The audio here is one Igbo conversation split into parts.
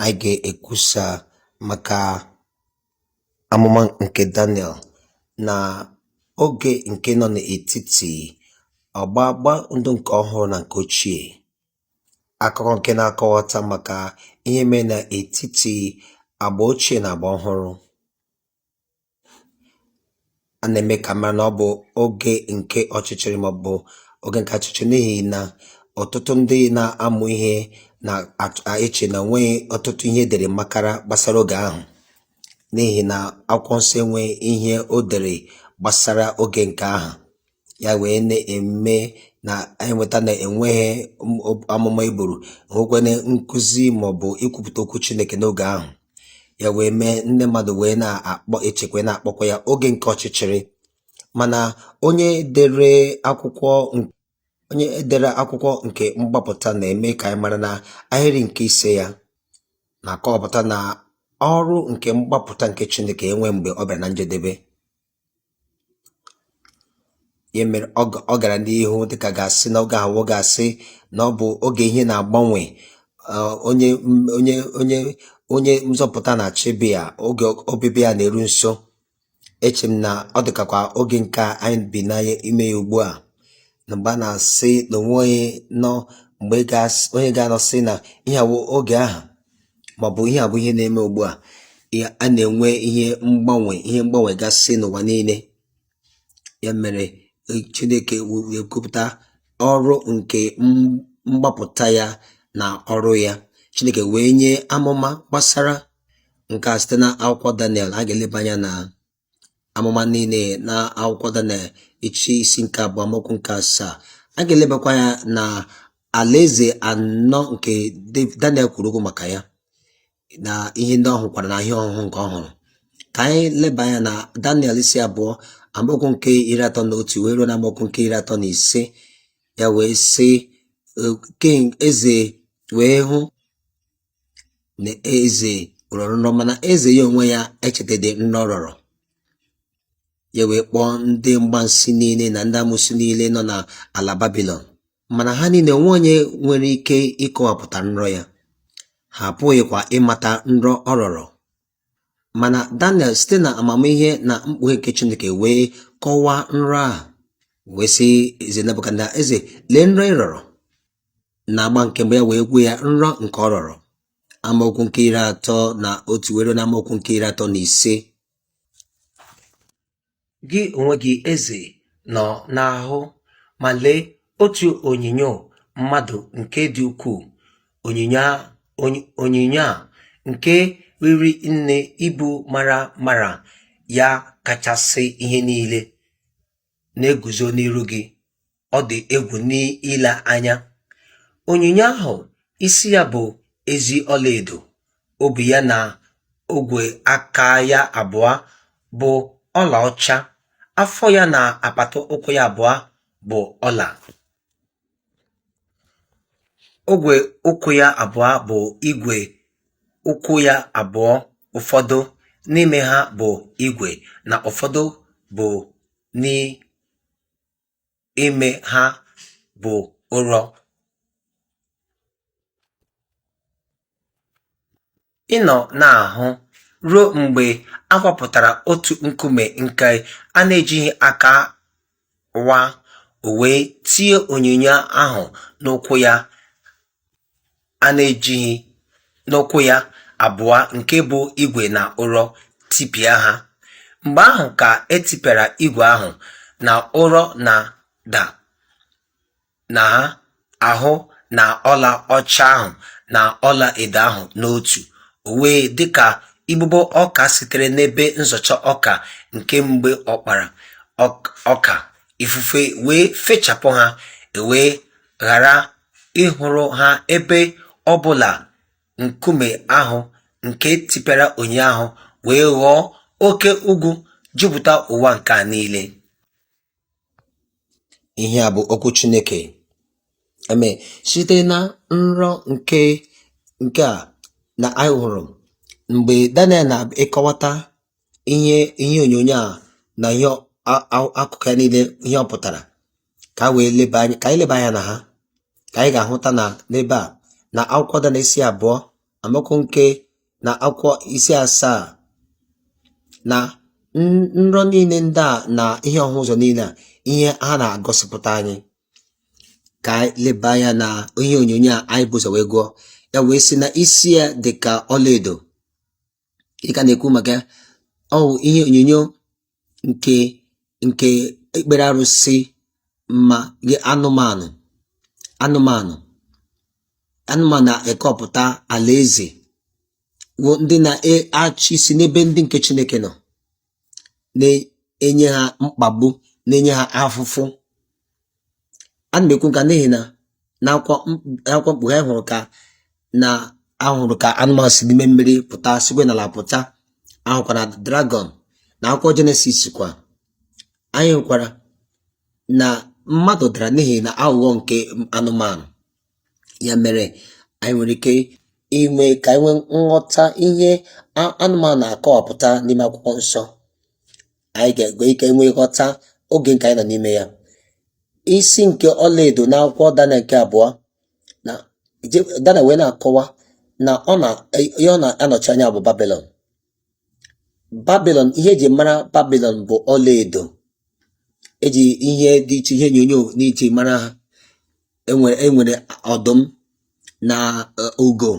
Anyị ga-ekwusa maka amụma nke Daniel na oge nke nọ n'etiti ọgbụgba ndụ nke ọhụrụ na nke ochie akụkọ nke na-akọwata maka ihe mere n'etiti agba ochie na agba ọhụrụ a na-eme ka a mara na ọ bụ oge nke ọchịchịrị maọbụ oge nke achịchị n'ihi na ọtụtụ ndị na-amụ ihe na-eche na onweghị ọtụtụ ihe edere makara gbasara oge ahụ n'ihi na akwụkwọ nsọ enweghị ihe o dere gbasara oge nke ahụ ya wee na-eme nà anyị nweta nà ènweghị amụma e bùrù enwekwanụ nkuzi màọbụ̀ ikwupùta okwu Chineke n'ogè ahụ ya wee mee ndị mmadụ wee na-echekwa na-akpọkwa ya oge nke ọchịchịrị mana onye dere akwụkwọ nke mgbapụta na-eme ka anyị mara na ahịrị nke ise ya na-akọwapụta na ọrụ nke mgbapụta nke Chineke enwe mgbe ọ bịara na njedebe Ya mere ọ ga- ọ gara n'ihu dịka a ga-asị na oge ahụ a ga-asị na ọ bụ oge ihe na-agbanwe uh, onye m- onye onye onye nzọpụta na-achọ ịbịa oge ọbịbịa ya na-eru nso eche m na ọ dịkakwa oge nke a anyị bi na ime ya ugbu a na mgbe a na-asị na onwe onye nọ mgbe ga- onye ga-anọ sị na ihe a wụ oge ahụ màọ̀bụ̀ ihe à bụ̀ ihe na-eme ùgbu à a nà-ènwe ihe mgbanwè ihe mgbanwè gasị nà ụ̀wà niilė ya mèrè chinėkè èkwupùta ọrụ ǹkè mgbapụ̀ta ya nà ọrụ ya chinėkè wèe nye amụma gbasara ǹkè à site na akwụkwọ daniel a gà-èleba anya nà amụma niile na akwụkwọ Daniel echi isi nke abụọ amaokwu nke asaa a ga-elebakwa anya na alaeze anọ nke Daniel kwuru okwu maka ya na ihe ndị ọ hụkwara na ihe ọhụhụ nke ọ hụrụ ka anyị leba anya na Daniel isi abụọ amaokwu nke iri atọ na otu wee ruo na amaokwu nke iri atọ na ise ya wee sị king eze wee hụ na eze rọrọ nrọ mana eze ya onwe ya echetadị nrọ ọ rọrọ ya wee kpọọ ndị mgbansi niile na ndị amụsị niile nọ na ala Babịlọn mana ha niile onwe onye nwere ike ịkọwapụta nrọ ya ha apụghịkwa ịmata nrọ ọ rọrọ Mana Daniel site na amamihe na mkpughe nke Chineke wee kọwaa nrọ ahụ wee sị eze Nebukadneza eze lee nrọ ị rọrọ na agba nke mgbe ya wee gwa ya nrọ nke ọ rọrọ amaokwu nke iri atọ na otu wee ruo na amaokwu nke iri atọ na ise gị onwe gị eze nọ na-ahụ ma lee otu onyinyo mmadụ nke dị ukwuu onyinyo a nke riri nne ibu mara mara ya kachasị ihe niile na-eguzo n'iru gị ọ dị egwu n'ile anya onyinyo ahụ isi ya bụ ezi ọlaedo obi ya na ogwe aka ya abụọ bụ ọlaọcha afọ ya na apata ụkwụ ya abụọ bụ ọla ogwe ụkwụ ya abụọ bụ igwe ụkwụ ya abụọ ụfọdụ n'ime ha bụ igwe na ụfọdụ bụ ime ha bụ ụrọ ị nọ na-ahụ ruo mgbe a wapụtara otu nkume nke a na-ejighị aka wa o wee tie onyinyo ahụ n'ụkwụ ya a na-ejighị n'ụkwụ ya abụọ nke bụ igwe na ụrọ tipịa ha. Mgbe ahụ ka e tipịara igwe ahụ na ụrọ na ọla na ọla ahụ na ọla ọcha ahụ na ọla edo ahụ n'otu, o wee dị ka igbogbo ọka sitere n'ebe nzọcha ọka nke mgbe ọ kpara ọka, ifufe wee fechapụ ha, e wee ghara ịhụrụ ha ebe ọ bụla nkume ahụ nke tipịara onyinyo ahụ wee ghọọ oke ugwu jupụta ụwa nke a niile ihe a bụ okwu Chineke eme site na nrọ nke nke a na anyị hụrụ mgbe Daniel na-ịkọwata ihe ihe onyonyo a na ihe akụkụ ya niile ihe ọ pụtara ka a wee leba anya ka anyị leba anya na ha ka anyị ga-ahụta na n'ebe a na akwụkwọ Daniel isi abụọ amaokwu nke na akwụkwọ isi asaa na nrọ niile ndị a na ihe ọhụ ụzọ niile a ihe ha na-agosipụta anyị ka anyị leba anya na ihe onyonyo a anyị bu ụzọ wee gụọ ya wee sị na isi ya dị ka ọlaedo ị ka na-ekwu maka ya ọ wụ ihe onyonyo nke nke ikpere arụsị ma anụmanụ anụmanụ anụmanụ na-ekwupụta alaeze wụ ndị na-achị isi n'ebe ndị nke Chineke nọ na-enye ha mkpagbu na-enye ha afụfụ ana m ekwu nke a n'ihi na n'akwụkwọ m- akwụkwọ mkpughe anyị hụrụ ka na ahụrụ ka anụmanụ si n'ime mmiri pụta sikwa n'ala pụta ahụkwa na dragọn na akwụkwọ jenesis kwa anyị hụkwara na mmadụ dara n'ihi na aghụghọ nke anụmanụ ya mere anyị nwere ike ime ka anyị nwee nghọta ihe anụmanụ na-akọwapụta n'ime akwụkwọ nsọ anyị ga-enwe ike nwee nghọta oge nke anyị nọ n'ime ya isi nke ọlaedo na akwụkwọ daniel nke abụọ na daniel wee na-akọwa na ọ na ihe ọ na-anọchi anya bụ babilon babilon ihe eji mara babilon bụ ọlaedo eji ihe dị iche ihe onyonyo dị iche mara ha enwere enwere ọdụm na e, ugo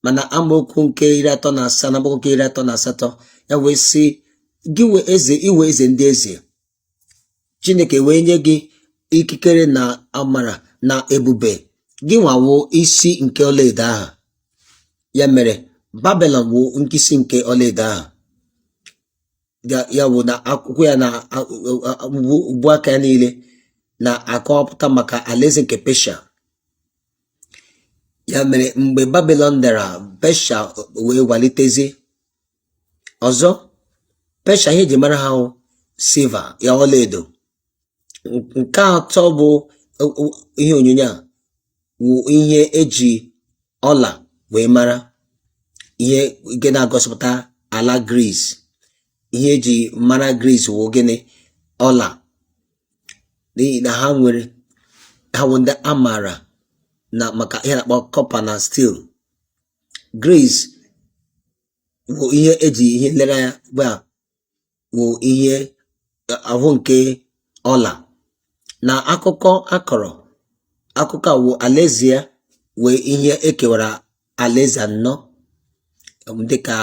mana amaokwu nke iri atọ na asaa na amaokwu nke iri atọ na asatọ ya wee sị gị wụ eze ị wụ eze ndị eze chineke wee nye gị ikikere na amara na ebube gịnwa wụ isi nke ọlaedo ahụ ya mere babilon wụ nke isi nke ọlaedo ahụ ya ya wụ na akụkụ ya na a- a- a- ubu- ubu aka ya niile na-akọwapụta maka alaeze nke pesha ya mere mgbe babilon dara pesha wee walitezie ọzọ pesha ihe eji mara ha wụ silver ya ọlaedo nke atọ bụ o- o- ihe onyonyo a wụ ihe eji ọla wee mara ihe nke na-agosipụta ala gris ihe eji mara gris wụ gịnị ọla n'ihi na ha nwere ha wụ ndị a maara na maka ihe a na-akpọ copper na steel gris wụ ihe eji ihe nlereanya gba wụ ihe ahụ nke ọla na akụkọ akọrọ akụkọ a wụ alaeze ya wụ ihe ekewara alaeze anọ dịka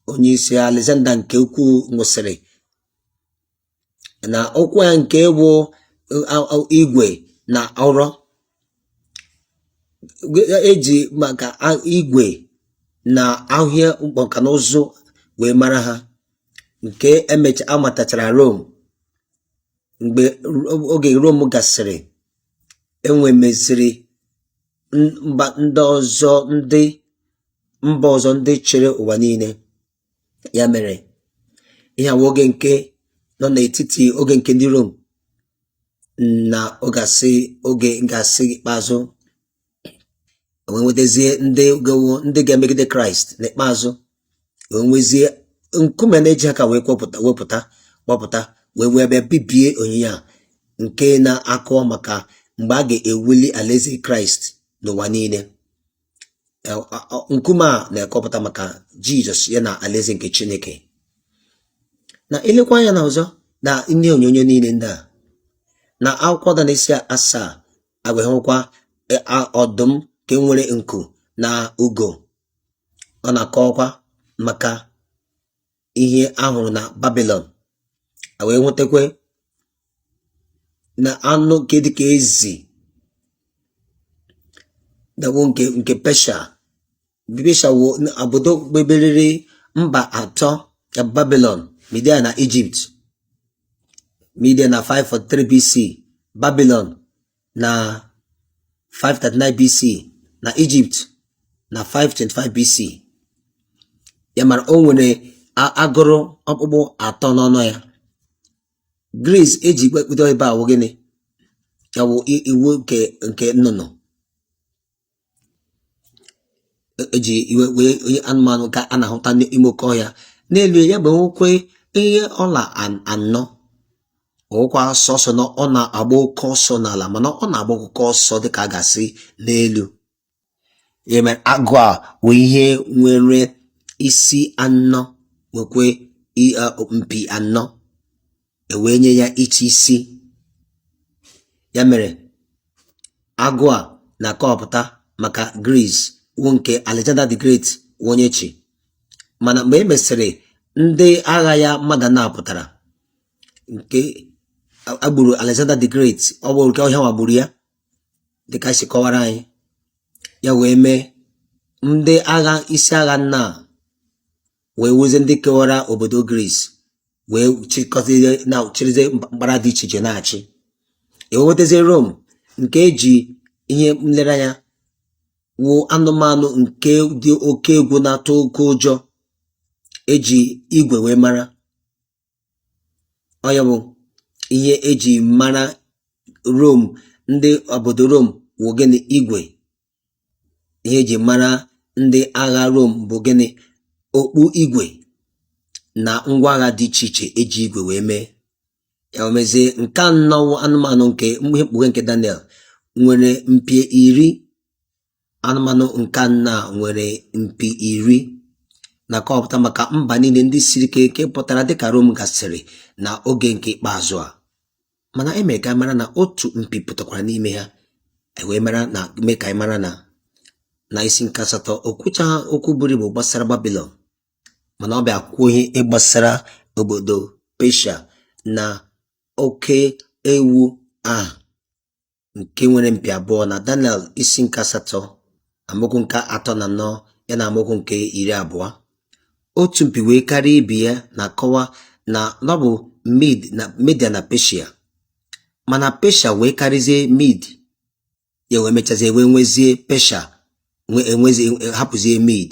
onye isi Alexander nke ukwuu nwụsịrị na ụkwụ ya nke wụ igwe na ụrọ eji maka igwe na ahịa mkpọka na ụzụ wee mara ha nke emecha amatachara Rom mgbe oge Rom gasịrị enwemeziri mba ndị ọzọ ndị mba ọzọ ndị chịrị ụwa niile ya mere ihe a wụ oge nke nọ n'etiti oge nke ndị Rom na oge asị oge nke asị ikpeazụ wee nwetazie ndị ga-awụ ndị ga-emegide kraịst n'ikpeazụ wee nwezie nkume na-ejighị aka wee kpọpụta wepụta kpọpụta wee wee bịa bibie onyinye a nke na-akọ maka mgbe a ga-ewuli alaeze kraịst n'ụwa niile nkume a na-akọpụta maka jizọs ya na alaeze nke chineke na elekwa anya na ọzọ na ihe onyonyo niile ndị a na akwụkwọ Daniel isi asaa a ga-ahụkwa e, ọdụm nke nwere nku na ugo ọ na-akọwakwa maka ihe a hụrụ na babilon wee nwetakwa na anụ nke dịka ezi na-awụ nke nke pesha pesha wụ obodo nke meriri mba atọ ya babilon midia na ijipt midia na 543 bc babilon na 539 BC na Egypt na 525 BC ya mere o nwere agụrụ ọkpụkpụ atọ n'ọnụ ya gris eji kpekpụdo ebe a wụ gịnị ya wụ iwu nke nke nnụnụ eji e iwe wee onye anụmanụ ka a na-ahụta n'ime oke ọhịa n'elu ya bụ nwekwe ihe ọla anọ ọ wụghị sọsọ na ọ na-agba oke ọsọ n'ala mana ọ na-agba oke ọsọ dịka a ga-asị n'elu e mee agụ a wụ ihe nwere isi anọ nwekwe mpi anọ e wee nye ya ịchị isi ya mere agụ a na-akọwapụta maka Gris wụ nke Alexander the Great wụ onye chị mana mgbe e mesịrị ndị agha ya mmadụ anọ pụtara nke e gburu Alexander the Great ọ bụ nke ọrịa nwa gburu ya dịka e si kọwara anyị ya wee mee ndị agha isi agha anọ wee wụzie ndị kewara obodo Gris wee chịkọzie na chịrịzie mpaghara dị iche iche na-achị e wee nwetazie Rom nke eji ihe nlereanya wụ anụmanụ nke dị oke egwu na-atụ oke ụjọ eji igwe wee mara ọ ya bụ ihe eji mara Rom ndị obodo Rom wụ gịnị igwe ihe eji mara ndị agha Rom bụ gịnị okpu igwe na ngwa agha dị iche iche eji igwe wee mee ya mezie nke anọ anụmanụ nke ihe mkpughe nke Daniel nwere mpi iri anụmanụ nke anọ nwere mpi iri na-akọpụta maka mba niile ndị siri ike nke pụtara dịka Rom gasịrị na oge nke ikpeazụ a mana e mere ka ị mara na otu mpi pụtakwara n'ime ha e wee mara na mee ka anyị mara na na isi nke asatọ o kwuchaa okwu buru ibu gbasara Babilọn mana ọ bịa kwuo ihe gbasara obodo Pesha na oke ewu ahụ nke nwere mpi abụọ na Daniel isi nke asatọ amaokwu nke atọ na anọ ya na amaokwu nke iri abụọ otu mpi wee karịa ibe ya na-akọwa na ọ bụ Media na Peshia mana Peshia wee karịzie Mid ya wee mechazie wee nwezie Peshia hapụzie Mid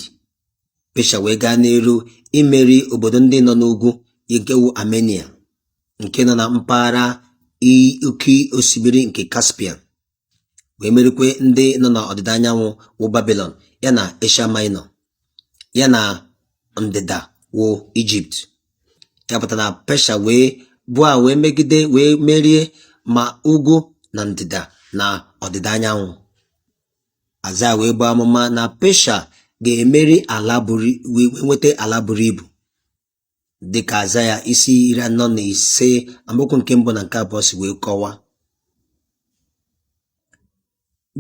Pesha wee gaa n'iru imeri obodo ndị nọ n'ugwu nke wụ Armenia nke nọ na mpaghara oke osimiri nke Caspian wee merikwe ndị nọ n'ọdịda anyanwụ wụ Babilọn ya na Asia Minor ya na ndịda wụ Ijipt ya pụtara na Pesha wee bịa wee megide wee merie ma ugwu na ndịda na ọdịda anyanwụ Aịzaya wee buo amụma na Pesha ga-emeri ala buru wee nweta ala buru ibu dịka Aịzaya isi iri anọ na ise amaokwu nke mbụ na nke abụọ si wee kọwa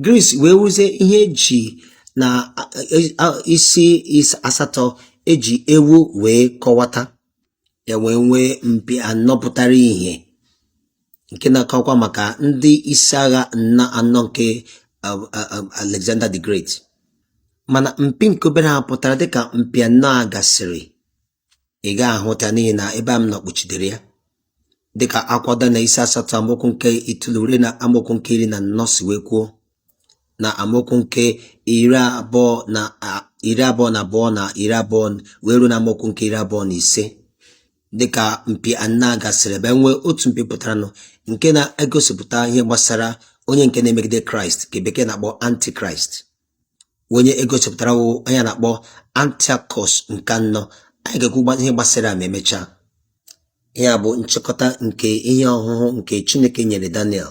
Gris wee wụzie ihe eji na isi asatọ eji ewu wee kọwata ya wee nwee mpi anọ pụtara ihe nke na-akọkwa maka ndị isi agha nna anọ nke um, um, um, Alexander the Great mana mpi nke obere ahụ pụtara dịka mpi anọ a gasịrị ị ga-ahụta n'ihi na ebe a m nọ kpuchidere ya dịka akwụkwọ Daniel isi asatọ amaokwu nke itoolu ruo na amaokwu nke iri na anọ si wee kwuo na amaokwu nke iri abụọ na iri abụọ na abụọ na iri abụọ wee ruo na amaokwu nke iri abụọ na ise dịka mpi anọ a gasịrị e wee nwee otu mpi pụtaranụ nke na-egosipụta ihe gbasara onye nke na-emegide kraịst nke bekee na-akpọ antikraịst onye egosipụtara wụ onye a na-akpọ antiakọs nke anọ anyị ga-ekwu ihe gbasara ya ma emechaa ihe a bụ nchịkọta nke ihe ọhụhụ nke Chineke nyere Daniel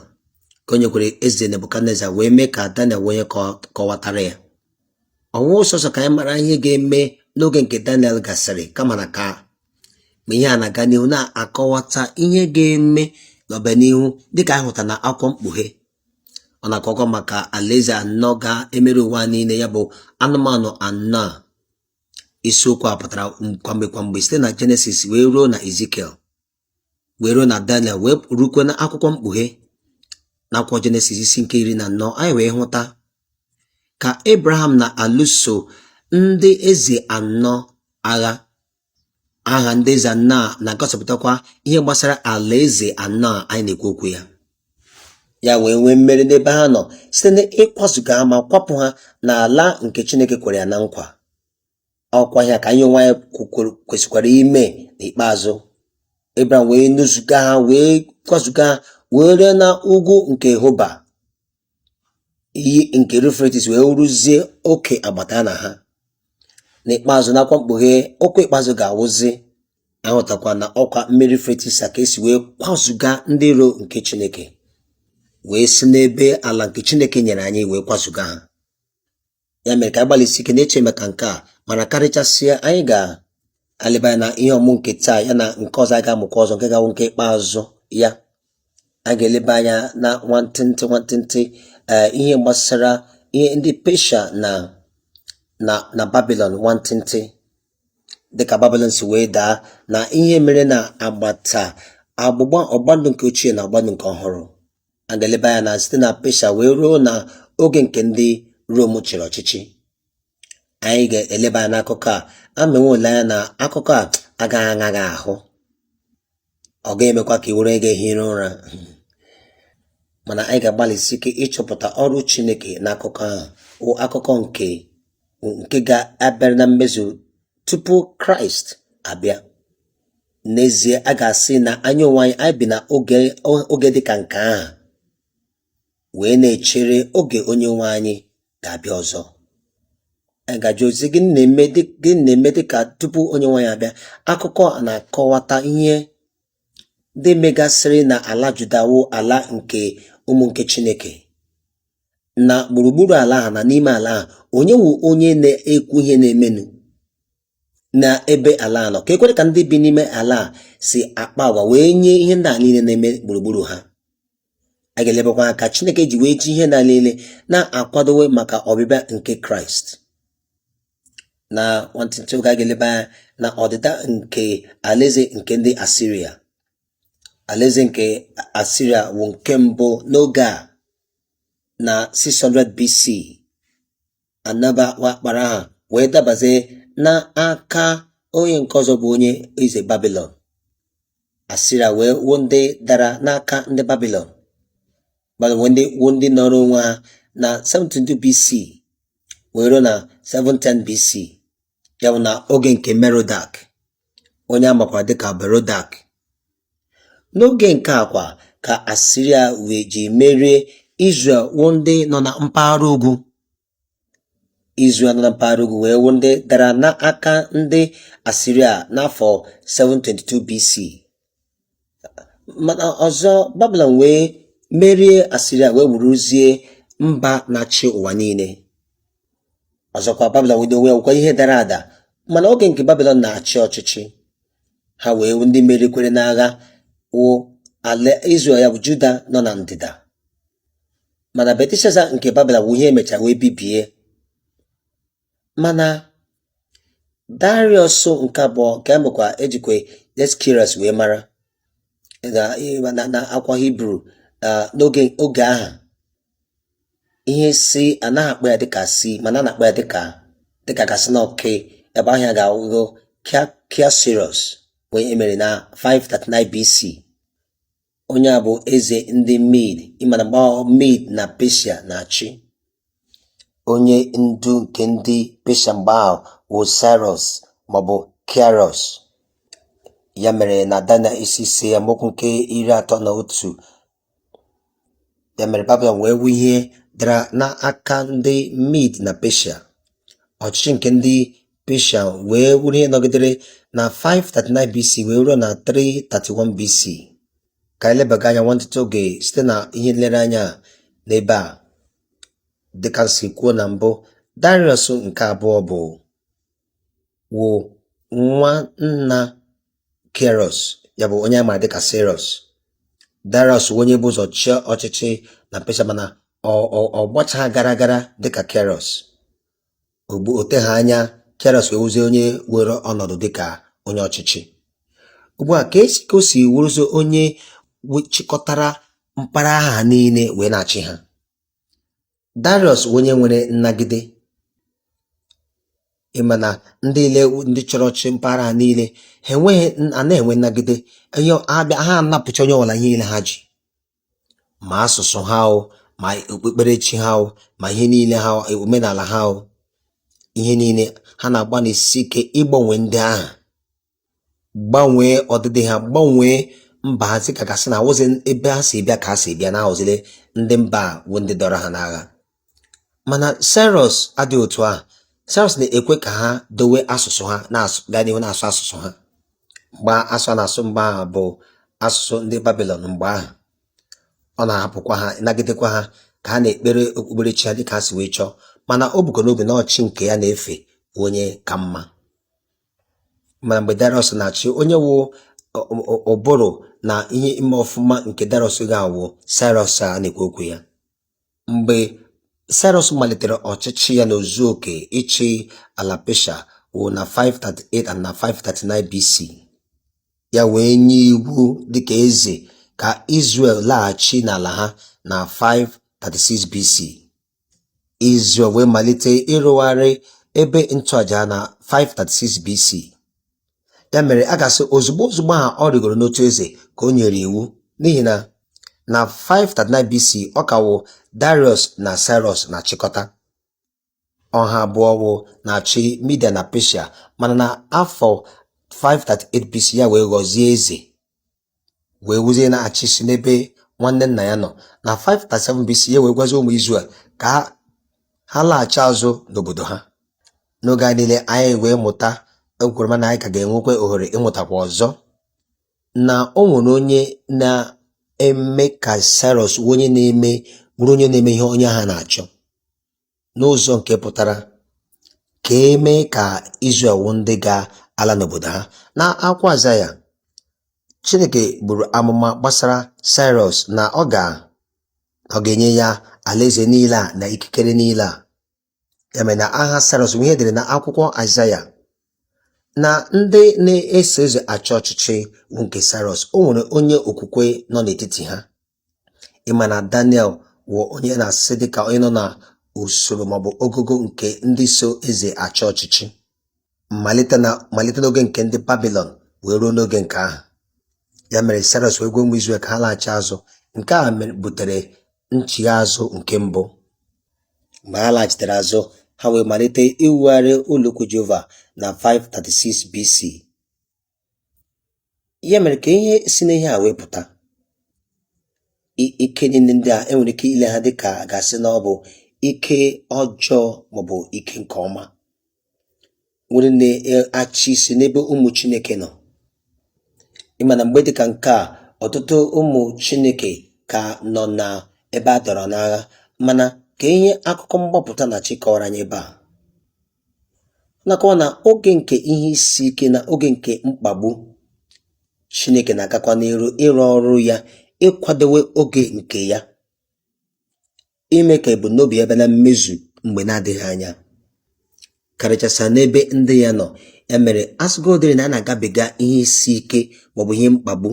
ka o nyekwara eze Nebukadneza wee mee ka Daniel wee kọwatara ya ọ wụghị sọsọ ka anyị mara ihe ga-eme n'oge nke Daniel gasịrị kama na ka ma ihe a na-aga n'ihu na-akọwata ihe ga-eme n'ọbịanihu dịka anyị hụta na akwụkwọ mkpughe ọ na-akọkwa maka alaeze anọ ga-emeri ụwa niile ya bụ anụmanụ anọ a isiokwu a pụtara kwamgbe kwamgbe site na jenesis wee ruo na ezikiel wee ruo na daniel wee rukwe na akwụkwọ mkpughe na akwụkwọ jenesis isi nke iri na anọ anyị wee hụta ka abraham na-alụso ndị eze anọ agha aha ndị eze anọ a na-agosipụtakwa ihe gbasara alaeze anọ a anyị na-ekwu okwu ya ya wee nwee mmeri n'ebe ha nọ site n'ịkwazuga ha ma kwapụ ha n'ala nke Chineke kwere ya na nkwa ọkwa ihe a ka anyị onwe anyị kwesịkwara ime n'ikpeazụ Abraham wee nuzuga ha wee kwazuga ha wee ruo na ugwu nke Hoba iyi nke Yufretis wee wụrụzie oke agbata ala ha n'ikpeazụ n'akwụkwọ mkpughe ọkwa ikpeazụ ga-awụzi a hụtakwa na ọkwa mmiri Yufretis a ka e si wee kwazuga ndị iro nke Chineke wee si n'ebe ala nke Chineke nyere anyị wee kwazuga ha ya mere ka anyị gbalịsi ike na-eche maka nke a mana karịchasịa anyị ga-eleba anya na ihe ọmụmụ nke taa ya na nke ọzọ anyị ga-amụkwa ọzọ nke ga-awụ nke ikpeazụ ya a ga-eleba anya na nwantịntị nwantịntị eh, ihe gbasara ihe ndị pesha na na na babilon nwantịntị dịka babilon si wee daa na ihe mere na agbata agbụgba ọgbandụ nke ochie na ọgbandụ nke ọhụrụ a ga-eleba anya na site na Pesha wee ruo na oge nke ndị Rom chịrị ọchịchị anyị ga-eleba anya n'akụkọ a amewe ole anya na akụkọ a gara aga ahụ ọ ga-emekwa ka ị were gị ehiri ụra mana anyị ga-agbalịsi ike ịchọpụta ọrụ Chineke n'akụkọ ahụ wụ akụkọ nke nke ga-abịara na mmezu tupu Kraịst abịa n'ezie a ga-asị na anyị onwe anyị anyị bi na oge oge dị ka nke ahụ wee na-echere oge onye nwe anyị ga-abịa ọzọ anyị ga-ajụzi gịnị na-eme dị- gịnị na-eme dị ka tupu onye nwe anyị abịa akụkọ a na-akọwata ihe ndị megasịrị na ala juda wụ ala nke ụmụ nke chineke na gburugburu ala ahụ na n'ime ala ahụ onye wụ onye na-ekwu ihe na-emenụ na ebe ala nọ ka ekwere ka ndị bi n'ime ala si akpa agwa wee nye ihe ndị a niile na-eme gburugburu ha a ga-elebakwa anya ka Chineke ji wee ji ihe ndị a niile na-akwadowe maka ọbịbịa nke Kraịst na nwantịntị oge a ga-eleba anya na ọdịda nke alaeze nke ndị Asiria alaeze nke Asiria wụ nke mbụ n'oge a na 600 BC anaba wakporo ha wee dabazie n'aka onye nke ọzọ bụ onye eze babilon asiria wee wụọ ndị dara n'aka ndị babilon bịazie wee wụọ ndị nọọrọ onwe ha na 72 BC wee ruo na 710 BC ya bụ na oge nke Merodak onye a makwara dịka Berodak n'oge nke a kwa ka Asiria wee ji merie Izrel wụ ndị nọ na mpaghara ugwu Izrel nọ na mpaghara ugwu wee wụ ndị dara n'aka ndị Asiria n'afọ 722 BC mana ọzọ babilon wee merie asiria wee wụrụzie mba na-achị ụwa niile ọzọkwa babilon wee n'onwe ya wụkwa ihe dara ada mana oge nke babilon na-achị ọchịchị ha wee ndị merikwere n'agha wụ ala Izrel ya bụ Juda nọ na ndịda mana Belteshaza nke Babilon bụ ihe e mechara wee bibie mana Darius nke abụọ nke a makwa ejikwa Cyaxares wee mara na akwụkwọ Hibru n'oge oge ahụ ihe C anaghị akpọ ya dịka C mana a na-akpọ ya dịka dịka a ga-asị na ọ K ebe aha ya ga-awụgo Kiaksares onye e mere na 539 BC onye a bụ eze ndị mid ị ma na mgbe ahụ mid na pesia na-achị onye ndu nke ndị pesia mgbe ahụ bụ cyrus maọbụ kiros ya mere na daniel isi ise amaokwu nke iri atọ na otu ya mere babilon wee wụ ihe dara n'aka ndị mid na pesia ọchịchị nke ndị Pesha wee wụrụ ihe nọgidere na 539 BC wee ruo na 331 BC ka anyị lebaga anya nwantịta oge site na ihe nlereanya n'ebe a dịka si kwuo na mbụ Darius nke abụọ bụ wụ nwa nna Keros ya bụ onye a maara dịka Seros Darius wụ onye bu ụzọ chịa ọchịchị na Pesha mana ọ gbachaghị gara gara dịka Keros Ugbu a o teghị anya Kairos wee wụzie onye were ọnọdụ dịka onye ọchịchị. Ugbu a ka esi ka o si wụrụzie onye chịkọtara mpaghara ha niile wee na-achị ha. Darius wụ onye nwere nnagide. Ị ma na ndị ile ndị chọrọ ịchị mpaghara ha niile ha anaghị enwe nnagide. Ha bịa ha anapụcha onye ọbụla ihe niile ha ji. ma asụsụ ha o ma okpukperechi ha o ma ihe niile ha o, omenala ha o ihe niile ha na-agbalịsi ike ịgbanwe ndị ahụ gbanwee ọdịdị ha gbanwee mba ha si ka a ga-asị na awụzi ebe ha si bịa ka ha si bịa na ha wụzile ndị mba a bụ ndị dọrọ ha n'agha mana Saịros adịghị otu ahụ Saịros na-ekwe ka ha dowe asụsụ ha na-asụ gaa n'ihu na-asụ asụsụ ha mgbe asụ a na-asụ mgbe ahụ bụ asụsụ ndị Babilọn mgbe ahụ ọ na-ahapụkwa ha nagidekwa ha ka ha na-ekpere okpukperechi ha dịka ha si wee chọọ mana o bukọ n'obi na chi nke ya na-efe wụ onye ka mma mana mgbe Dariọs na-achị onye wụ ụbụrụ na ihe ime ọfụma nke Dariọs ga-awụ Saịros a na-ekwu okwu ya Mgbe Saịrọs malitere ọchịchị ya n'ozu oke ịchị ala Pesha wụ na 538 and na 539 BC. Ya wee nye iwu dịka eze ka Izrel laghachi n'ala ha na 536 BC. Izrel wee malite ịrụgharị ebe nchụaja na 536 BC. ya mere a ga-asị ozugbo ozugbo ahụ ọ rịgoro n'oche eze ka o nyere iwu n'ihi na na 539 BC ọ ka wụ Darius na Cyrus na-achịkọta ọ ha abụọ wụ na-achị Midia na Persia mana na afọ 538 BC ya wee ghọzie eze wee wuzie na-achị isi n'ebe nwanne nna ya nọ na 537 BC ya wee gwazie ụmụ Izrel ka ha- ha laghachi azụ n'obodo ha n'oge a niile anyị wee mụta ekwere m na anyị ka ga-enwekwa ohere ịmụtakwa ọzọ na o nwere onye na-eme ka Cyrus wụ onye na-eme bụrụ onye na-eme ihe onye ahụ na-achọ n'ụzọ nke pụtara ka e mee ka Izrel wụ ndị ga-ala n'obodo ha. Na akwụkwọ Aịzaya, Chineke buru amụma gbasara Saịrọs na ọ ga ọ ga-enye ya alaeze niile a na ikikere niile a. Ya mere na aha Saịrọs wụ ihe e dere na akwụkwọ Aịzaya na ndị na-eso eze achị ọchịchị wụ nke Saịrọs. O nwere onye okwukwe nọ n'etiti ha. ị ma na Daniel wụ onye na-asị dịka onye nọ na usoro maọbụ ogogo nke ndị so eze achị ọchịchị malite na malite n'oge nke ndị babilon wee ruo n'oge nke ahụ ya mere Saịrọs wee gwa ụmụ Izrel ka ha laghachi azụ nke a mere- butere nchigha azụ nke mbụ mgbe ha laghachitere azụ ha wee malite iwugharị ụlọukwu Jehova na 536 BC ya mere ka ihe si n'ihe a wee pụta i- ike niile ndị a e nwere ike ile ha dịka a ga-asị na ọ bụ ike ọjọọ maọbụ ike nke ọma nwere na-achị isi n'ebe ụmụ chineke nọ ị ma na mgbe dịka nke a ọtụtụ ụmụ chineke ka nọ na ebe a dọrọ n'agha mana ka ihe akụkọ mgbapụta na chi kọwara anyị ebe a na-akọwa na oge nke ihe isi ike na oge nke mkpagbu Chineke na-agakwa n'iru ịrụ ọrụ ya ịkwadowe oge nke ya ime ka ebumnobi ya bịa na mmezu mgbe na-adịghị anya karịchasịa n'ebe ndị ya nọ ya mere a sịgodịrị na a na-agabiga ihe isi ike maọbụ ihe mkpagbu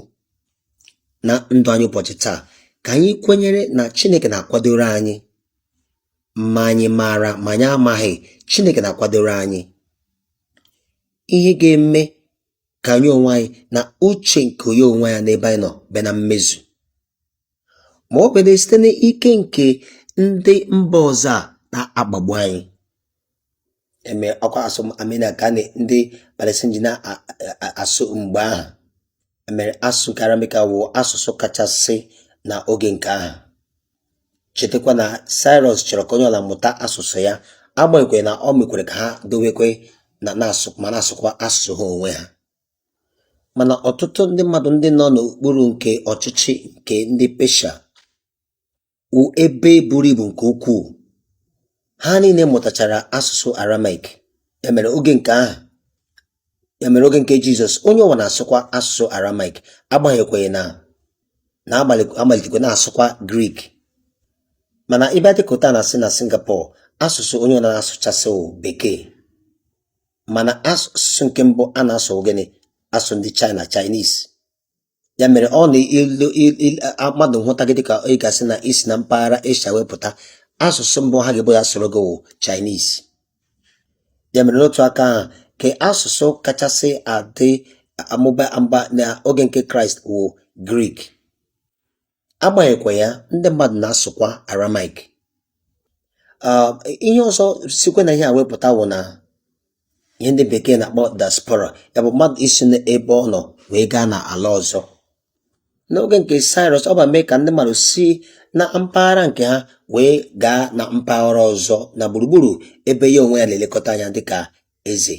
na ndụ anyị ụbọchị taa ka anyị kwenyere na Chineke na-akwadoro anyị ma anyị maara ma anyị amaghị Chineke na-akwadoro anyị ihe ga-eme ka anyị onwe anyị na uche nke onyenwe anyị n'ebe anyị nọ bịa na mmezu ma ọ bịara site n'ike nke ndị mba ọzọ a na-akpagbu anyị eme ọkwa asụ Armenia ka ndị Palestine ji na-asụ mgbe ahụ ya mere asụsụ nke Aramaik wụ asụsụ kachasị na oge nke ahụ chetakwa na Cyrus chọrọ ka onye ọla mụta asụsụ ya agbanyeghị na o mekwara ka ha dowekwe na na-asụ ma na-asụkwa asụsụ ha onwe ha mana ọtụtụ ndị mmadụ ndị nọ n'okpuru nke ọchịchị nke ndị Pesha wụ ebe buru ibu nke ukwuu. Ha niile mụtachara asụsụ Aramaik. Ya mere oge nke ahụ ya mere oge nke Jizọs onye ọwụla na-asụkwa asụsụ Aramaik agbanyekwaghị na a na-amalitekwa na-asụkwa Grik mana ị bịa dịka na asị na Singapore asụsụ onye ọla na-asụchasị wụ bekee mana asụsụ nke mbụ a na-asụ gịnị asụ ndị China Chinese ya mere ọ na ilu il- il- a- mmadụ hụta gị dịka ị ga-asị na i si na mpaghara Asia wee pụta asụsụ mbụ ha ga-ebo ya sụọrọ gị wụ Chinese ya mere n'otu aka ahụ ka asụsụ kachasị adị amụba amụba n'oge nke Kraịst wụ Grik agbanyeghịkwa ya ndị mmadụ na-asụkwa Aramaik ah, ihe ọzọ sikwa na ihe a wee pụta wụ na ihe ndị bekee na-akpọ diaspora ya bụ mmadụ isi n'ebe ọ nọ wee gaa na ala ọzọ n'oge nke Cyrus ọ bịa mee ka ndị mmadụ si na mpaghara nke ha wee gaa na mpaghara ọzọ na gburugburu ebe ya onwe ya na-elekọta anya dịka eze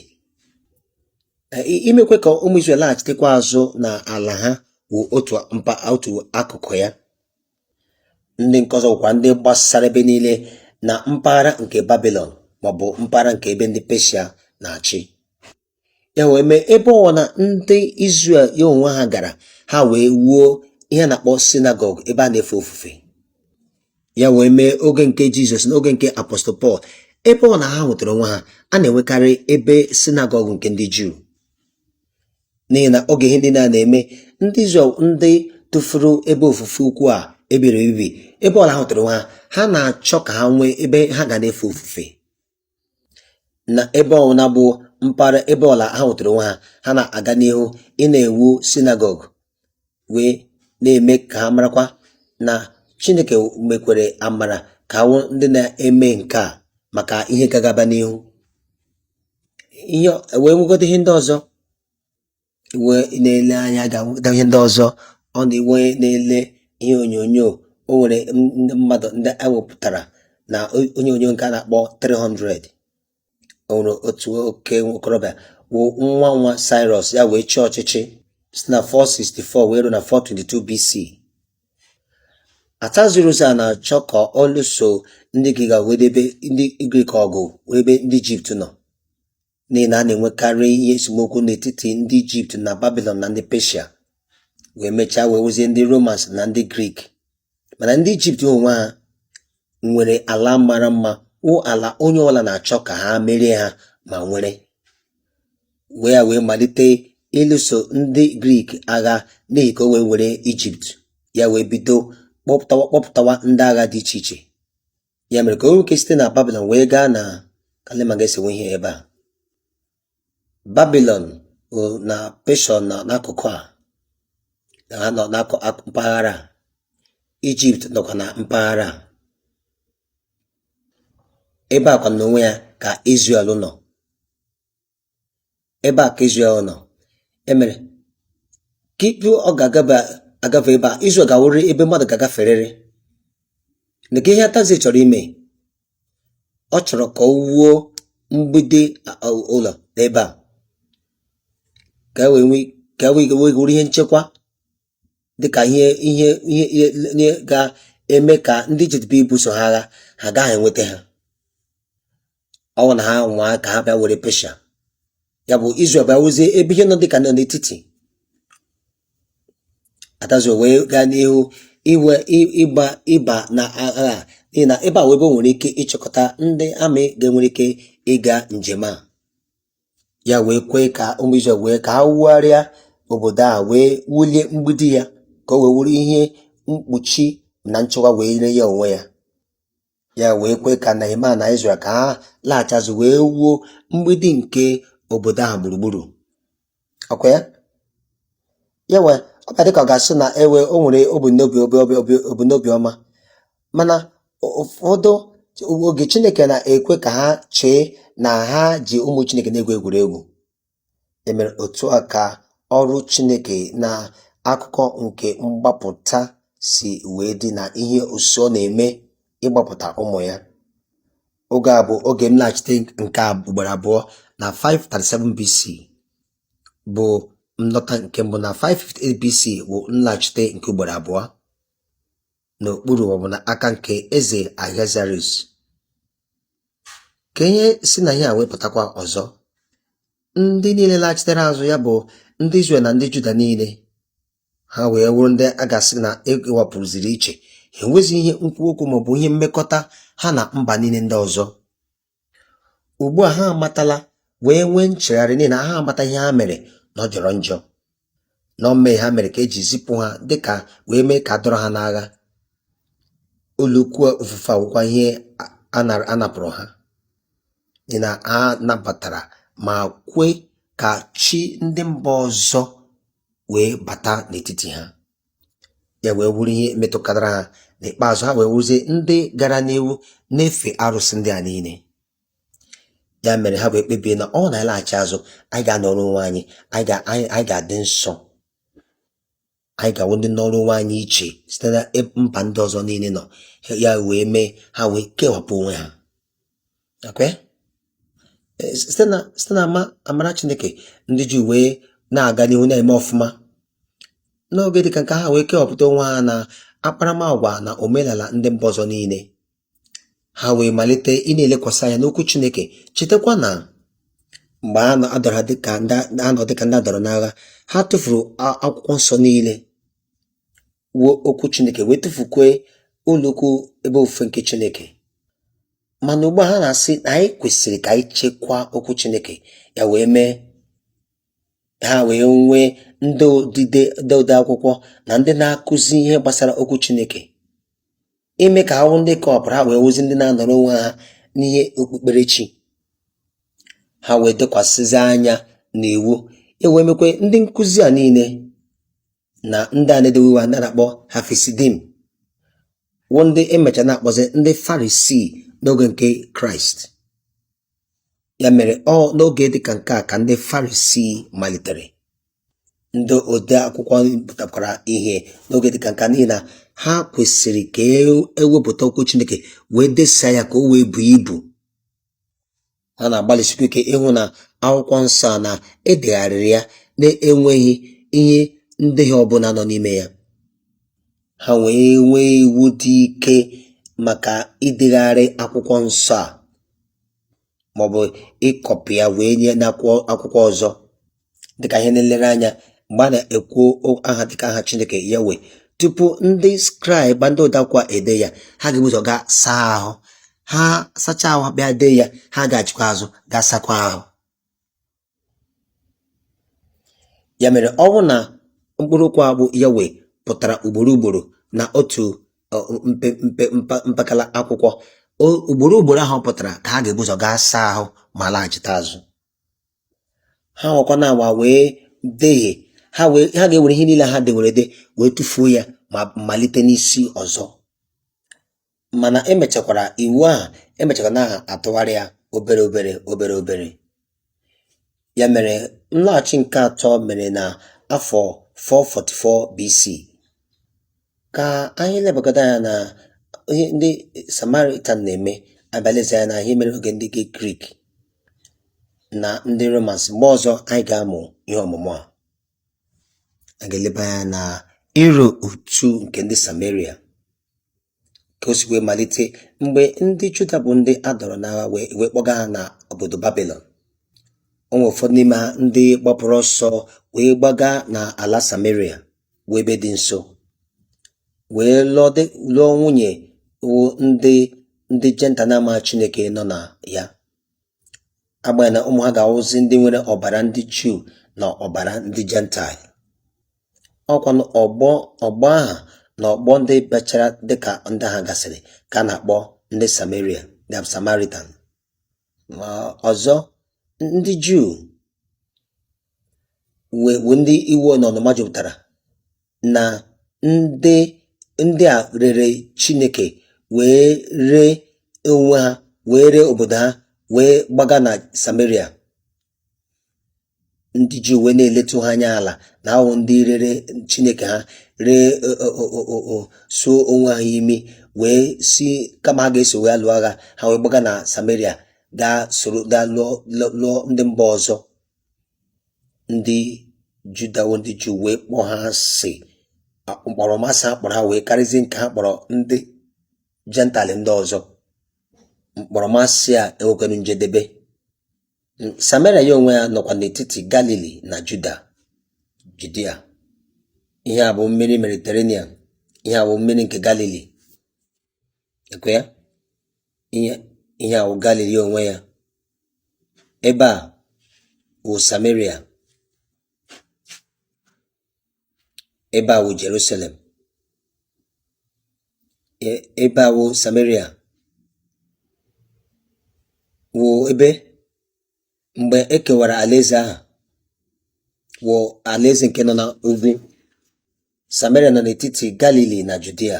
imekwe ka ụmụ Izrel laghachitekwa azụ na ala ha wụ otu mpa otu akụkụ ya ndị nke ọzọ bụkwa ndị gbasara ebe niile na mpaghara nke babilon maọbụ mpaghara nke ebe ndị peshia na-achị ya wee mee ebe ọwụla ndị Izrel ya onwe ha gara ha wee wuo ihe a na-akpọ sinagọg ebe a na-efe ofufe ya wee mee oge nke jizọs na oge nke apọstụl pọl ebe ọla ha hụtara onwe ha a na-enwekarị ebe sinagọg nke ndị juu n'ihi na oge ihe ndị a na-eme ndị Izrel ndị tụfuru ebe ofufe ukwu a e bibiri ebibi ebe ọla ha hụtara onwe ha ha na-achọ ka ha nwee ebe ha ga na-efe ofufe na ebe ọbụla bụ mpaghara ebe ọbụla ha nwetara onwe ha ha na-aga n'ihu ị na-ewu sinagọg wee na-eme ka ha marakwa na chineke mekwere amara ka a wụ ndị na-eme nke a maka ihe gagaba n'ihu ihe wee nwegodo ihe ndị ọzọ e wee na-ele anya ga-ahụta ihe ndị ọzọ onye wee na-ele ihe onyonyo o nwere ndị mmadụ ndị e wepụtara na onyonyo nke a na-akpọ 300 o nwere otu oke okorobịa wụ nwa nwa Cyrus ya wee chịa ọchịchị si na 464 wee ruo na 422 BC Ataziruza na-achọ ka ọ lụso ndị Grik wee debe ndị Grik ọgụ wee ebe ndị Ijipt nọ n'ihi na a na-enwekarị ihe esemokwu n'etiti ndị Ijipt na Babilọn na ndị Peshia wee mechaa wee wụzie ndị Romans na ndị Grik mana ndị Ijipt onwe ha nwere ala mara mma wụ ala onye ọbụla na-achọ ka ha merie ha ma nwere wee ya wee malite ịlụso ndị Grik agha n'ihi ka o wee were Ijipt ya wee bido kpọpụtawa kpọpụtawa ndị agha dị iche iche ya mere ka o nwee ike site na babilon wee gaa na kalima ga-esewe ihe ebe a babilon na Peshia nọ n'akụkụ a ha nọ na mpaghara a ijipt nọkwa na mpaghara ebe a kwa n'onwe ya ka Izrel nọ ebe a ka Izrel nọ e mere ka ị pụọ ga-agafe ebe a Izrel ga-awụrịrị ebe mmadụ ga-agaferịrị na ka ihe Atazi chọrọ ime ọ chọrọ ka ọ wuo mgbidi ụlọ n'ebe a ka e wee ka e wee wụrụ ihe nchekwa dịka ihe ihe ihe ga-eme ka ndị Ijipt bịa ibuso ha agha ha agaghị enweta ha ọ bụ na ha nwaa ka ha bịa were Peshia ya bụ Izrel bịa wụzie ebe ihe nọ dịka nọ n'etiti atazi wee gaa n'ihu iwe ịgba ịba na agha n'ihi na ebe a wụ ebe nwere ike ịchịkọta ndị army ga-enwere ike ịga njem a ya wee kwee ka ụmụ Izrel wee ka ha wugharịa obodo a wee wulie mgbidi ya ka o wee wụrụ ihe mkpuchi na nchekwa wee nye ya onwe ya ya wee kwee ka Nehemaya na Izrel ka ha laghachi azụ wee wuo mgbidi nke obodo ahụ gburugburu ọkwa ya ya wee ọ bịa dịka ọ ga-asị na ewe o nwere ọ bụ n'obi ọ bụ n'obi ọma mana ụfọdụ oge Chineke na-ekwe ka ha chee na ha ji ụmụ Chineke na-egwu egwuregwu emere otu aka ọrụ Chineke na akụkọ nke mgbapụta si wee dị na ihe o si ọ na-eme ịgbapụta ụmụ ya oge a bụ oge nlaghachite nke a ugboro abụọ na 537 BC bụ nlọta nke mbụ na 558 BC bụ nlaghachite nke ugboro abụọ n'okpuru maọbụ na aka nke eze Ahasuerus ka ihe si na ihe a wee pụtakwa ọzọ ndị niile laghachitere azụ ya bụ ndị Izrel na ndị Juda niile ha wee wụrụ ndị a ga-asị na ewepụziri iche enweghịzi ihe nkwu okwu maọbụ ihe mmekọta ha na mba niile ndị ọzọ ugbu a ha amatala wee nwee nchegharị n'ihi na ha amata ihe ha mere na ọ jọrọ njọ na ọ mmehie ha mere ka eji zipụ ha dịka wee mee ka adọrọ ha n'agha ụlọukwu ofufe awụkwa ihe a napụrụ ha n'ihi na ha nabatara ma kwe ka chi ndị mba ọzọ wee bata n'etiti ha ya wee wụrụ ihe metụkatara ha n'ikpeazụ ha wee wụrụzie ndị gara n'ihu na-efe arụsị ndị a niile ya mere ha wee kpebie na ọ na-alaghachi azụ anyị ga-anọrọ onwe anyị anyị ga-adị nsọ anyị ga-awụ ndị nọrọ onwe anyị iche site na mba ndị ọzọ niile nọ ya wee mee ha wee kewapụ onwe ha e, site na amara chineke ndị Juu wee na-aga n'ihu na-eme ọfụma n'oge dịka nke a ha wee kewapụta onwe ha na akparamagwa na omenala ndị mba ọzọ niile ha wee malite ị na-elekwasị anya n'okwu chineke chetakwa na mgbe a na-adọrọ dịka ha nọ dịka ndị adọrọ n'agha ha tụfuru akwụkwọ nsọ niile wụ okwu chineke wee tụfukwe ụlọukwu ebe ofufe nke chineke mana ugbu a ha na-asị na anyị kwesịrị ka anyị chekwaa okwu Chineke ya wee mee ha wee nwee ndị odide ndị ode akwụkwọ na ndị na-akụzi ihe gbasara okwu Chineke ime ka ha wụ ndị kewapụrụ ha wee wụzi ndị na-anọrọ onwe ha n'ihe okpukperechi ha wee lekwasịzi anya na iwu ewee mekwe ndị nkụzi a niile na ndị a na-edewe iwu a na-akpọ Hasidim wụ ndị emecha na-akpọzi ndị farisii n'oge nke kraịst ya mere ọ n'oge dịka nke a ka ndị farisii malitere ndị ode akwụkwọ pụtakwara ihe n'oge dịka nke a n'ihi na ha kwesịrị ka ewepụta e okwu chineke wee desaa ya ka o wee buo ibu ha na-agbalịsikwa ike ịhụ na akwụkwọ nsọ a na edegharịrị ya na-enweghị ihe ndehie ọbụla nọ n'ime ya ha wee nwee iwu dị ike maka idegharị akwụkwọ nsọ a maọbụ ịkọpị ya wee nye n'akwụkwọ ọzọ dịka ihe nlere anya mgbe a na-ekwu aha dịka aha chineke yawe tupu ndị skraịb ndị ode akwụkwọ edee ya ha ga-ebu ụzọ gaa saa ahụ ha sachaa ahụ bịa dee ya ha laghachikwa azụ gaa sakwa ahụ ya mere ọ bụ na mkpụrụ okwu a bụ yawe pụtara ugboro ugboro na otu mpekele akwụkwọ ugboro ugboro aha pụtara ka ha ga-ebu ụzọ gaa saa ahụ ma laghachite azụ ha nwakwa anwa wee dehie ha ga-ewere ihe niile ha dewere ede wee tụfuo ya ma malite n'isi ọzọ mana emechakwara iwu ahụ emechakwara na-atụgharị ya obere obere obere obere ya mere nlọghachi nke atọ mere na afọ 444 BC ka anyị lebagodu anya na ihe ndị Samaritan na-eme a bịa lezie anya na ihe mere oge ndị Grik na ndị romans mgbe ọzọ anyị ga-amụ ihe ọmụmụ a a ga-eleba anya na ịrọ otu nke ndị samaria ka o si wee malite mgbe ndị juda bụ ndị a dọrọ n'agha e wee kpọga ha na obodo babilon o nwere ụfọdụ n'ime ha ndị gbapụrụ ọsọ wee gbaga na ala samaria wụ ebe dị nso wee lụọ nwunye wụ ndị ndị jentaịl na-amaghị Chineke nọ na ya agbanyeghị na ụmụ ha ga-awụzi ndị nwere ọbara ndị Juu na ọbara ndị jentaịl ọkwa ọgbọ ọgbọ ha na ọgbọ ndị bịachara dịka ndị ha gasịrị ka a na-akpọ ndị Samaria the Samaritan ọzọ ndị Juu wụ ndị iwe na ọnụma jupụtara na ndị ndị a rere Chineke wee ree onwe ha wee ree obodo ha wee gbaga na Sameria ndị juu wee na-eletụ ha anya ala na ha wụ ndị rere chineke ha ree suo onwe ha imi wee sị kama ha ga-eso wee lụọ agha ha wee gbaga na samaria gaa soro gaa lụọ ndị mba ọzọ ndị juda wụ ndị juu wee kpọọ ha asị mkpọrọmasị ha kpọrọ ha wee karịzie nke ha kpọrọ ndị jentaịl ndị ọzọ mkpọrọmasị a enwekwara njedebe Sameria ya onwe ya nọkwa n'etiti Galili na Juda Judia ihe a bụ mmiri Mediterranean ihe a bụ mmiri nke Galili ekwe ya ihe a bụ Galili ya onwe ya ebe a wụ Sameria ebe a wụ Jerusalem e- ebe a wụ Samaria wụ ebe mgbe e kewara alaeze ahụ wụ alaeze nke nọ na ugwu Samaria nọ n'etiti Galili na Judia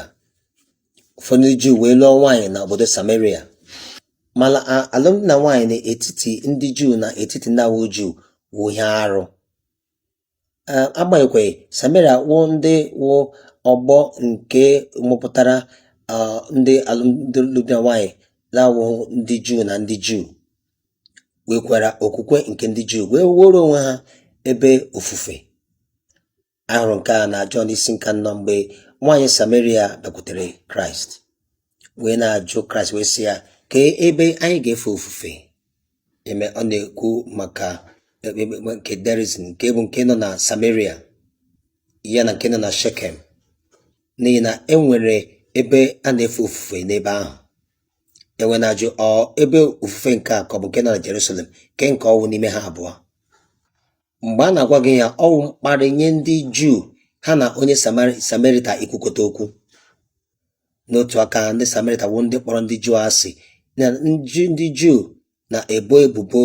ụfọdụ ndị Juu wee lụọ nwaanyị na obodo Samaria mana a- alụmdi na nwaanyị n'etiti ndị Juu na etiti ndị na-awụghị Juu wụ ihe arụ agbanyeghị Sameria wụ ndị wụ ọgbọ nke mụpụtara ndị alụmdi na nwanyị na-awụghị ndị Juu na ndị Juu nwekwara okwukwe nke ndị Juu wee wuoro onwe ha ebe ofufe a hụrụ nke a na Jọn isi nke anọ mgbe nwaanyị Sameria bịakwutere Kraịst wee na-ajụ kraịst wee sị ya kee ebe anyị ga-efe ofufe eme ọ na-ekwu maka ekpekpe nke Gerizim nke bụ nke nọ na samaria ya na nke nọ na shekem n'ihi na e nwere ebe a na-efe ofufe n'ebe ahụ e wee na-ajụ ọ ebe ofufe nke a ka ọ bụ nke nọ na jerusalem kee nke ọ wụ n'ime ha abụọ mgbe a na-agwa gị ya ọ wụ mkparị nye ndị juu ha na onye Samari- samarita ikwukọta okwu n'otu aka ndị samerita wụ ndị kpọrọ ndị juu asị na ndị juu na-ebo ebubo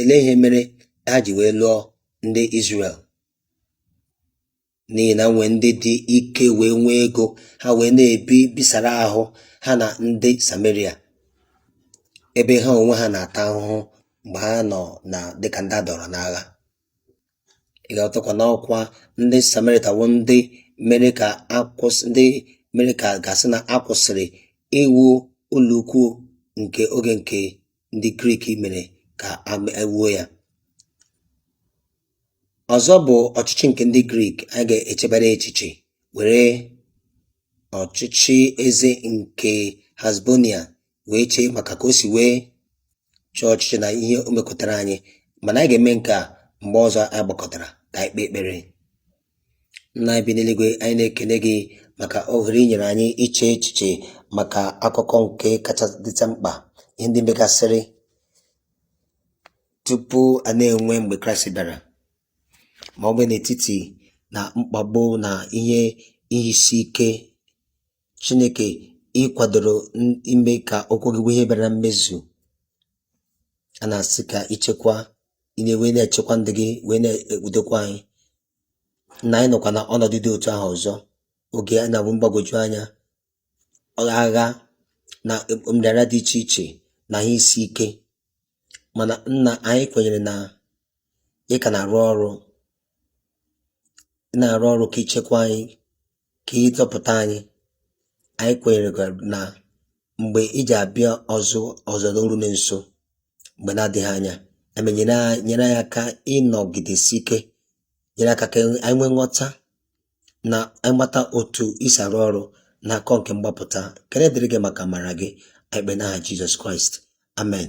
elee ihe mere ha ji wee lụọ ndị Israel n'ihi na nwee ndị dị ike wee nwee ego ha wee na-ebi bisara ahụ ha na ndị Sameria ebe ha onwe ha na-ata ahụhụ mgbe ha nọ na dịka ndị a dọrọ n'agha ị ga-aghọtakwa na ọ kwa ndị samerịta bụ ndị mere ka a kwụsị ndị mere ka a ga-asị na a kwụsịrị iwu ụlọukwu nke oge nke ndị grik mere ka e wuo ya ọzọ bụ ọchịchị nke ndị grik anyị ga-echebere echiche were ọchịchị eze nke Hasmonia wee chee maka ka o si wee chọọ ọchịchị na ihe o mekọtara anyị mana anyị ga-eme nke a mgbe ọzọ anyị gbakọtara ka anyị kpee ekpere nna anyị bi n'eluigwe anyị na-ekele gị maka ohere i nyere anyị iche echiche maka akụkọ nke kacha dịta mkpa ihe ndị megasịrị tupu a na-enwe mgbe kraịst bịara ma ọ bụ n'etiti na mkpagbu na ihe ihe isi ike Chineke ị kwadoro ime ka okwu gị bụ ihe bịara na mmezu a na-asị ka ichekwa wee na-echekwa ndị gị wee na-ekpudekwa anyị na anyị nọkwa na ọnọdụ dị otu ahụ ọzọ oge a na-abụ mgbagwoju anya agha na nrịanrịa dị iche iche na ihe isi ike mana nna anyị kwenyere na ị ka na-arụ ọrụ na-arụ ọrụ ka i chekwaa anyị ka ị zọpụta anyị anyị kwenyere na mgbe ị ji abịa ọzọ ọzọ na-eru na nso mgbe na-adịghị anya eme nyere anyị- nyere anyị aka ịnọgidesi ike nyere aka ka anyị nwee nghọta na anyị mata otu i si arụ ọrụ na akọ nke mgbapụta ekene dịrị gị maka amara gị anyị kpee n'aha jizọs kraịst amen